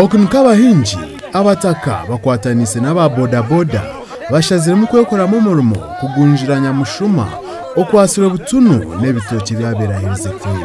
Oku nikwo abahingi, abataka bakwataniise n'aba bodaboda bashaziremu kwekoramu omurimo kugunjira nyamushuma okwatsirwe butunu n'ebitookye ebyabaire aherize kubi.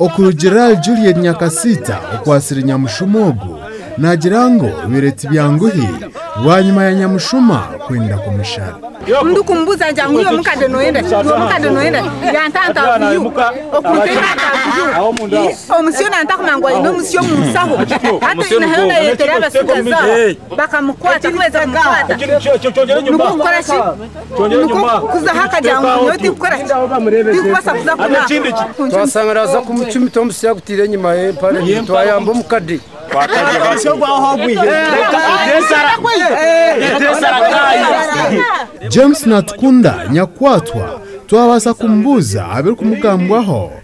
Okurugiirira ahari Juliet Nyakasiita okwatsire nyamushuma ogu, naagira ngu bibaire tibyanguhi bwanyima ya nyamushuma kwenda kumushara. Twasanga naaza kumucumita omusyo agutaire enyima y'empare ye twayamba omukade. James Natukunda nyakwatwa twabaasa kumubuuza abirikumugambwaho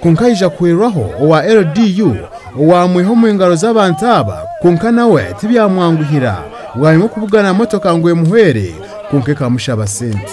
Kwonka aija kuhwerwaho owa LDU owaamwiha omu ngaro z'abantu aba, kwonka nawe tibyamwanguhira. Bwanyima okubugana motoka ngu emuhwere, kwonka ekamushaba sente.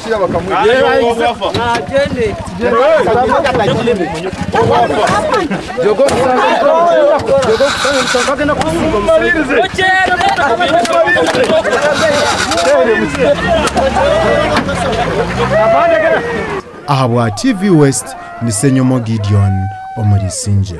Ahabwa TV West ni Senyomo Gideon omuri Isingye.